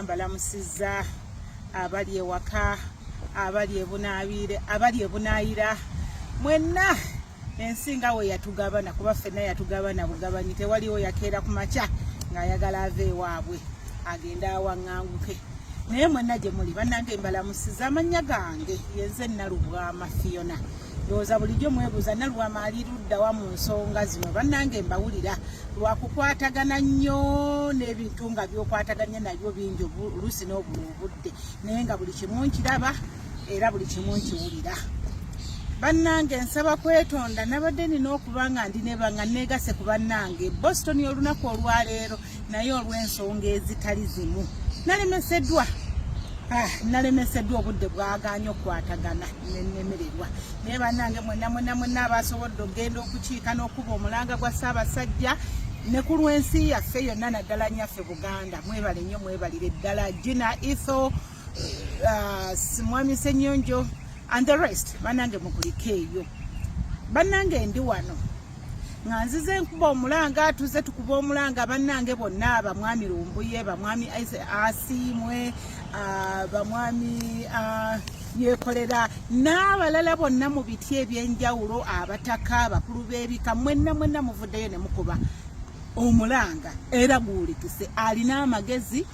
balamusiza abali ewaka abali ebunaabiire abali ebunaayira mwenna ensi nga we yatugabana kuba ffenna yatugabana bugabanyi tewaliwo yakeera ku makya ng'ayagala ava ewaabwe agende awaŋŋanguke naye mwenna gye muli bannange mbalamusiza amannya gange yenze nalubwama fiona ndowooza bulijjo mwebuuza nalubwama ali luddawa mu nsonga zino bannange mbawulira lwakukwatagana nnyo n'ebintu nga byokwataganya nabyo bingi oluusi n'obula obudde naye nga buli kimu nkiraba era buli kimu nkiwulira bannange nsaba kwetonda nabadde nina okuba nga ndi nebanga negase ku bannange boston olunaku olwaleero naye olw'ensonga ezitali zimu nalemeseddwa ah, nalemeseddwa obudde bwaganya okukwatagana nenemererwa naye bannange mwena mwena mwena abasobodde okugenda okukiika n'okuba omulanga gwa ssaabasajja ne ku lw'ensi yaffe yonna naddala nyaffe buganda mwebale nnyo mwebalire ddala gina etho uh, Mwami Senyonjo and the rest banange mukulike eyo banange ndi wano nga nzize nkuba omulanga tuze tukuba omulanga banange bonna bamwami lumbuye bamwami asiimwe uh, bamwami uh, yekolera n'abalala bonna mu biti ebyenjawulo abataka abakulu b'ebika mwenna mwenna muvuddeyo ne mukuba omulanga era guwulikise alina amagezi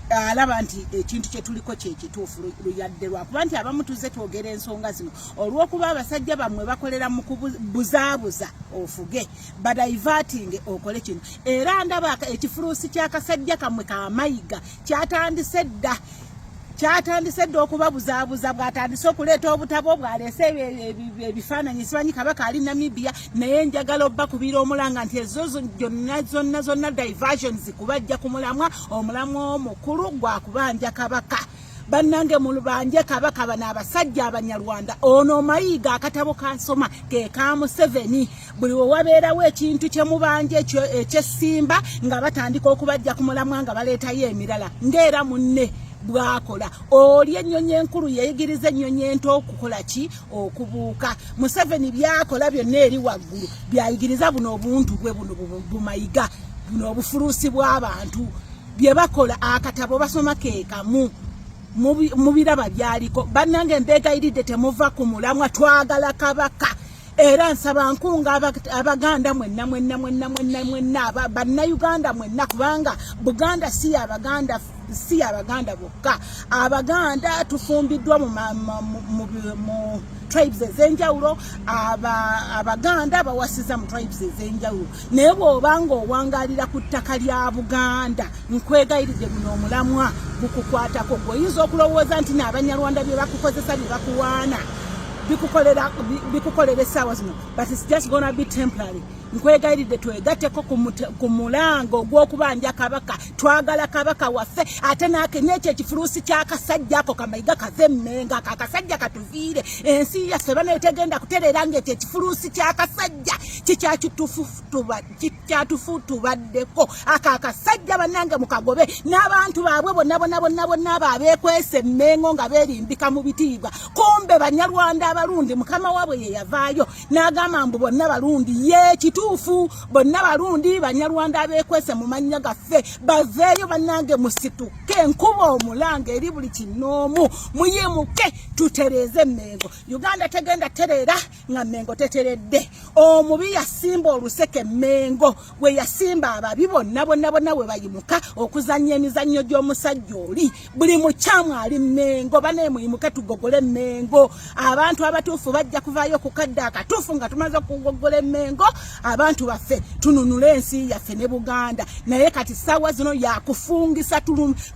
alaba nti ekintu kyetuliko kyekituufu luyadde lwakuba nti abamu tuzze twogera ensonga zino olwokuba abasajja bammwe bakolera mu kubuzaabuza ofuge badaivatinge okole kino era ndaba ekifuluusi kyakasajja kamwe kamayiga kyatandise dda kyatandise dda okubabuzaabuza bwatandise okuleeta obutabo bwaleese ebifaananyi simanyi kabaka ali namibia naye njagala obba kubira omulanga nti ezo gyonna zonna zonna diversions kubajja ku mulamwa omulamwa omukulu gwa kubanja kabaka bannange mulubanje kabaka bano abasajja abanyarwanda ono mayiga akatabo kasoma ke ka museveni buli wewabeerawo ekintu kyemubanja ekyesimba nga batandika okubajja ku mulamwa nga baleetayo emirala ngaera munne bwakola oli ennyonyi enkulu yeyigiriza ennyonyi ento okukola ki okubuuka museveni byakola byonna eri waggulu byayigiriza buno obuntu bwe buno bumayiga buno obufuluusi bw'abantu bye bakola akatabo basoma keekamu mu biraba byaliko bannange mbeegayiridde temuva ku mulamwa twagala kabaka era nsaba nkunga abaganda mwenna mwenna mwenna mwenna mwenna bannayuganda mwenna kubanga buganda si yabaganda si abaganda bokka abaganda tufumbiddwa mu tribes ezenjawulo abaganda bawasiza mu tribes ezenjawulo naye bwoba nga owangalira ku ttaka lya buganda nkwegayiridde guno omulamwa gukukwatako gwe oyinza okulowooza nti naabanyarwanda bye bakukozesa bye bakuwaana bikukolera essaawa zino but its just gonna be temporary nkwegayiridde twegateko ku mulango ogw'okubanja kabaka twagala kabaka waffe ate nakenye ekyo ekifuluusi kyakasajja ako kamayiga kave mmenga ako akasajja katuviire ensi yaffe bana etegenda kutereera nga ekyo ekifuluusi kyakasajja kikyatufu tubaddeko ako akasajja banange mukagobe n'abantu baabwe bonna bonna bonna bonna abo abeekwesa emmengo nga beerimbika mu bitiibwa kumbe banyarwanda abalundi mukama waabwe yeyavaayo n'agamba mbu bonna balundi ye kituufu bonna balundi banyarwanda abeekwese mu mannya gaffe baveeyo bannange musituke nkuba omulanga eri buli kinoomu muyimuke tutereeze emmengo uganda tegenda tereera nga mmengo teteredde omubi yasimba oluseke mmengo we yasimba ababi bonna bonna bonna we bayimuka okuzannya emizannyo gy'omusajja oli buli mukyamu ali mengo banaye muyimuke tugogole mengo abantu abatuufu bajja kuvaayo okukadde akatuufu nga tumaze okugoggola emengo abantu baffe tununule ensi yaffe ne buganda naye kati saawa zino yakufungisa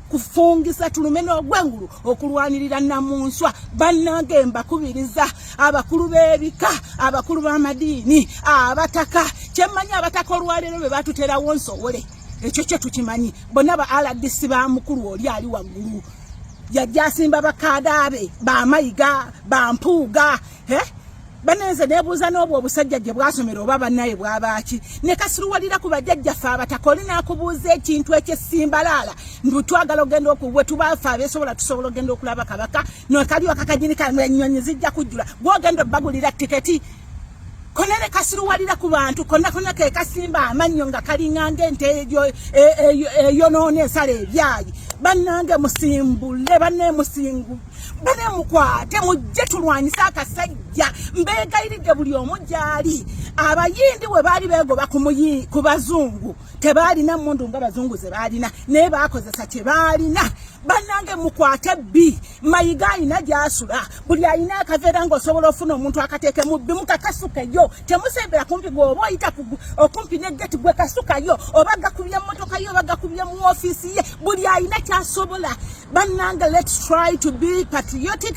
kufungisa tulume n'ogwengulu okulwanirira namunswa bannange mbakubiriza abakulu b'ebika abakulu b'amadiini abataka kyemmanyi abataka olwaleero be batuterawo nsowole ekyo kyo tukimanyi bonna ba rdc ba mukulu oli ali waggulu yajja asimba bakaadaabe bamayiga bampuuga eh? banenze nebuuza n'obwo obusajja gye bwasomera oba bannaye bwabaaki ne kasiruwalira ku bajjajjaffe abatakoli n'akubuuza ekintu ekyesimbalaala ndu twagala ogenda okuwe tubaafe abeesobola tusobola ogenda okulaba kabaka nokaliwa kakajini kanyonyi zijja kujjula gwogenda obbagulira tiketi kona ne kasiruwalira ku bantu konna konna ke kasimba amannyo nga kalinganga ente eyonoona e, e, ensala ebyayi bannange musimbule banne musingu bane mukwate mujje tulwanyise akasajja mbeegayiridde buli omu gyali abayindi we baali beegoba ku bazungu tebaalina mundu nga bazungu ze baalina naye baakozesa kye baalina bannange mukwate bbi mayiga alina gyasula buli alina akaveera ngaosobola ofuna omuntu akateekemu bbi mukakasukeyo temusembera kumpi gweoba oyita okumpi ne geti gwe kasukayo oba gakubye mumotoka ye oba gakubye mu ofiisi ye buli alina kyasobola bannange lets try to be patriotic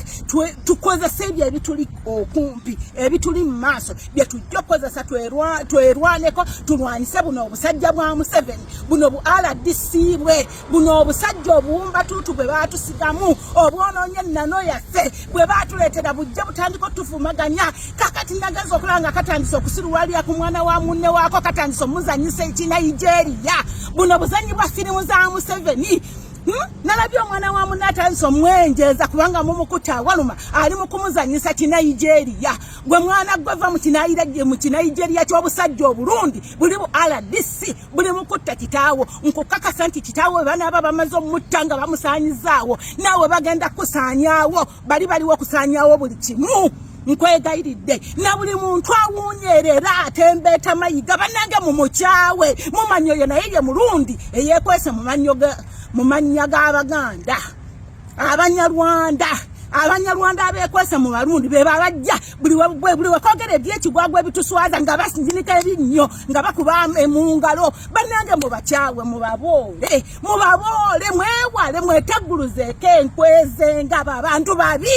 tukozese ebyo ebituli okumpi ebituli mu maaso bye tujja okukozesa twerwaneko tulwanyise buno obusajja bwa museveni buno bu rdc bwe buno obusajja obuwumbatuutu bwe baatusigamu obwonoonye ennano yaffe bwe baatuleetera bujja butandika otuvumaganya kakati nagenza okulaba nga katandise okusiruwalira ku mwana wa munne waako katandise omuzanyisa ekinayijeeriya buno buzanyi bwa firimu za museveni Hmm? nalabye omwana wa munne atandise omwenjeeza kubanga mumukuta awaluma ali mu kumuzanyisa kinaijeeriya gwe mwana gwe va mukinaijeria kyobusajja obulungi buli bu rdc buli mukutta kitaawo nkukakasa nti kitaawo banaaba bamaze omutta nga bamusaanyizaawo naawe bagenda kusaanyaawo bali baliwo okusaanyaawo buli kimu nkwegayiridde na buli muntu awunyerera atembeeta mayiga banange mumukyawe mumanyi oyo naye ye mulundi eyekwese mu mannya g'abaganda abanyarwanda abanyarwanda abekwese mu barundi be babajja buli buli wekogera ebyekigwagwa ebituswaza nga basinzinika ebinnyo nga bakuba mu ngalo banange mubakyawe mubaboole mubaboole mwewale mwetegguluzeeko enkweze nga babantu babi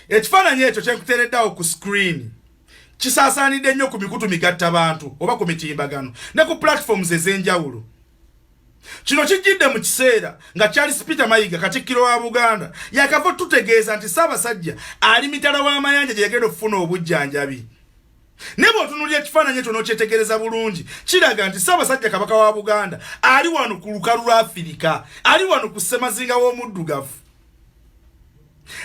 ekifaananyi ekyo kyekuteereddawo ku screeni kisaasaanidde nnyo ku mikutu migatta bantu oba ku mitimbagano ne ku platforms ez'enjawulo Kino kijjidde mu kiseera nga Charles Peter Mayiga katikkiro wa Buganda yakava tutegeeza nti Ssaabasajja ali mitala w'amayanja gye yagenda okufuna obujjanjabi. Ne bw'otunuulira ekifaananyi ekyo n'okyetegereza bulungi kiraga nti Ssaabasajja Kabaka wa Buganda ali wano ku lukalu lwa Afirika, ali wano ku ssemazinga w'omuddugavu.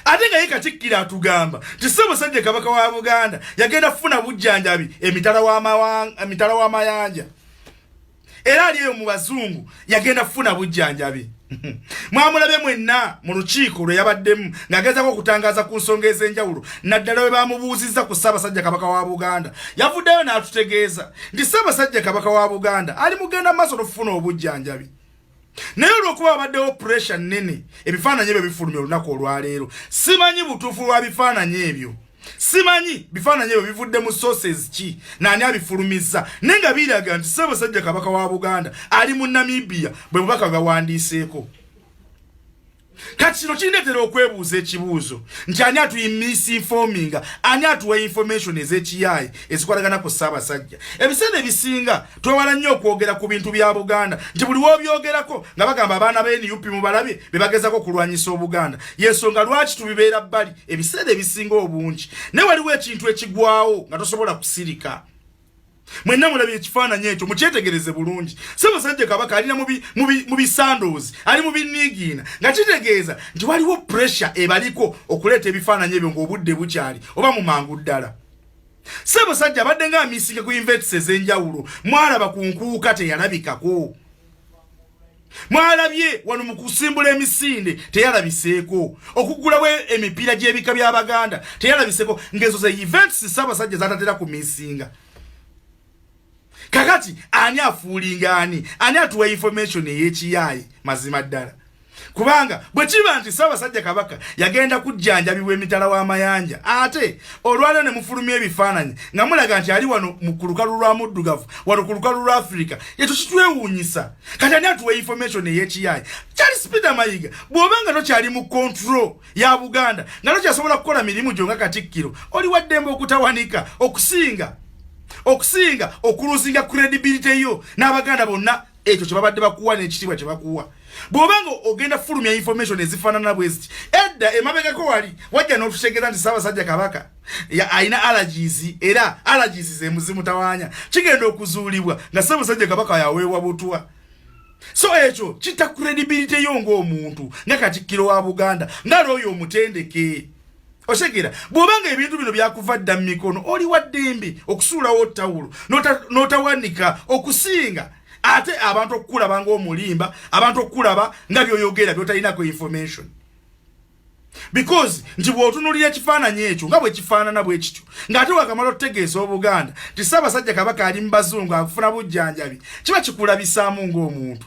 Ate nga ye katikkiro atugamba nti Ssaabasajja Kabaka wa Buganda yagenda kufuna bujjanjabi emitala w'amayanja. era ali eyo mu bazungu yagenda kufuna bujjanjabi mwamulabe mwenna mu lukiiko lwe yabaddemu ng'agezaako okutangaza ku nsonga ez'enjawulo naddala we bamubuuzizza ku ssaabasajja kabaka wa buganda yavuddeyo n'atutegeeza nti ssaabasajja kabaka wa buganda ali mugenda mu maaso n'okufuna obujjanjabi naye olwokuba wabaddewo puresha nnene ebifaananyi ebyo bifulumya olunaku olwaleero simanyi butuufu lwa bifaananyi ebyo simanyi bifaananyi ebyo bivudde mu sources ki naani abifulumizza naye nga biraga nti ssabasajja kabaka wa buganda ali mu namibia bwe bubaka bwawandiiseeko kati kino kindetera okwebuuza ekibuuzo nti ani atuyi misinfominga ani atuwa information ezekiyaayi ezikwatagana ku ssaabasajja ebiseera ebisinga twewala nnyo okwogera ku bintu bya buganda nti buli wobyogerako nga bagamba abaana ba nup mubalabye bebagezako okulwanyisa obuganda yensonga lwaki tubibeera bbali ebiseera ebisinga obungi naye waliwo ekintu ekigwawo nga tosobola kusirika mwenna mulabye ekifaananyi ekyo mukyetegereze bulungi ssabasajja kabaka ali na mu bisandoozi ali mu biniigiina nga kitegeeza nti waliwo puresure ebaliko okuleeta ebifaananyi ebyo ng'obudde bukyali oba mu mangu ddala ssabasajja abadde nga amisinge ku invets ez'enjawulo mwalaba ku nkuuka teyalabikako mwalabye wano mu kusimbula emisinde teyalabiseeko okugulawo emipiira gy'ebika by'abaganda teyalabiseeko ng'ezo ze events ssaabasajja zatatera ku misinga kakati ani afuulinga ani ani atuwa information ey'ekiyaaye mazima ddala kubanga bwe kiba nti ssaabasajja kabaka yagenda kujjanjabibwa emitala w'amayanja ate olwaliro ne mufulumya ebifaananyi nga mulaga nti ali wano mu ku lukalu lwa muddugavu wano ku lukalu lwa afirika ekyo kitwewuunyisa kati ani atuwa information ey'ekiyaayi charles peter mayiga bw'oba nga tokyali mu control ya buganda nga tokyasobola kukola mirimu gyo nga katikkiro oli waddembe okutawanika okusinga okusinga okuluzinga credibility yo n'abaganda bonna ekyo kyebabadde bakuwa nekitiibwa kyebakuwa bwoba nga ogenda fulumya information ezifanana bweziti edda emabegako wali wajja notutegeeza nti sabasajja kabaka alina allergies era allergies zemuzimutawanya kigenda okuzuulibwa nga sabasajja kabaka yaweebwa butwa so ekyo kita credibility yo ngaomuntu nga katikkiro wa buganda nga looyo omutendeke oshegera bwobanga ebintu bino byakuva dda mu mikono oli wa ddembe okusuulawo tawulo n'otawanika okusinga ate abantu okukulaba ngaomulimba abantu okukulaba nga byoyogera byotalinako information because nti bwotunulira ekifaananyi ekyo nga bwekifaanana bwe kityo ng'ate wakamala otutegeeza obuganda nti ssaabasajja kabaka ali mu bazungu akufuna bujjanjabi kiba kikulabisaamu ng'omuntu